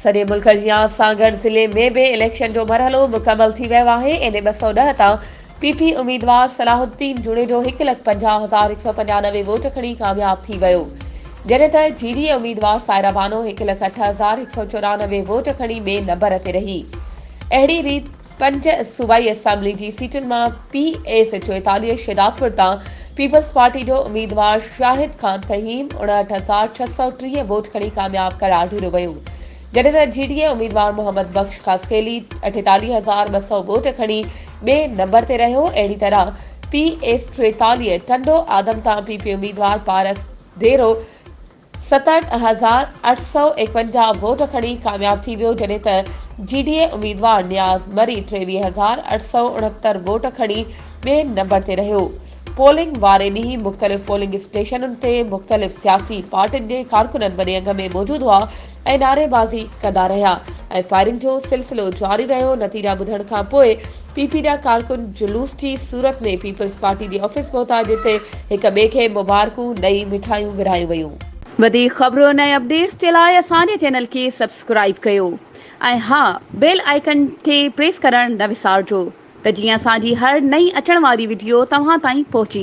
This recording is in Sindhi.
سڄي ملڪ جيان سان گڏ ضلعي ۾ به اليڪشن جو مرحلو مڪمل ٿي ويو آهي، اين اي ٻه سؤ ڏهه تان پي پي اميدوار صلاح الدين جوڻيجو هڪ لک پنجاهه هزار هڪ سؤ پنجانوي ووٽ کڻي ڪامياب ٿي ويو، جڏهن ته جي ڊي اي اميدوار سائره بانو هڪ لک اٺ هزار هڪ سؤ چورانوي ووٽ کڻي ٻئي نمبر تي رهي. اهڙي ريت پنج صوبائي اسيمبلي جي سيٽن مان پي ايس چوئيتاليهه شهدادپور تان پيپلز پارٽي جو اميدوار شاهد خان تهيم اڻهٺ هزار ڇهه سؤ ٽيهه ووٽ کڻي ڪامياب قرار ڏنو ويو گڏيل جي ڊي اي اميدوار محمد بخش خاصخيلي اٺيتاليهه هزار ٻه سؤ ووٽ کڻي ٻئي نمبر تي رهيو اهڙي طرح پي ايس ٽيتاليهه ٽنڊو آدم تان پي پي اميدوار پارس ديرو ستهٺ هزار اٺ سؤ ايڪونجاهه ووٽ کڻي ڪامياب ٿي ويو جڏهن ته جي ڊي اي اميدوار نياز مري ٽيويهه هزار اٺ سؤ اڻهتر ووٽ کڻي ٻئي نمبر تي رهيو پولنگ واري ڏينهن مختلف پولنگ اسٽيشنن تي مختلف سياسي پارٽين جي ڪارڪنن وڏي انگ ۾ موجود هئا ۽ نعري بازي ڪندا رهيا ۽ فائرنگ جو سلسلو جاري رهيو نتيجا ٻڌڻ کان پوء پي پي جا ڪارڪن جلوس جي صورت ۾ پيپلز پارٽي جي آفيس پهتا جتي هڪ ٻئي کي مبارڪون ڏئي مٺايون ورهايون ويون. وڌيڪ خبرن ۽ اپڊيٽس جي لاء اسان جي چينل کي سبسڪرائيب ڪيو ۽ ها بيل آئيڪن کي پريس ڪرڻ نه وسارجو ته جيئن اسان جي هر نئين اچڻ واري وڊيو توهان تائين پهچي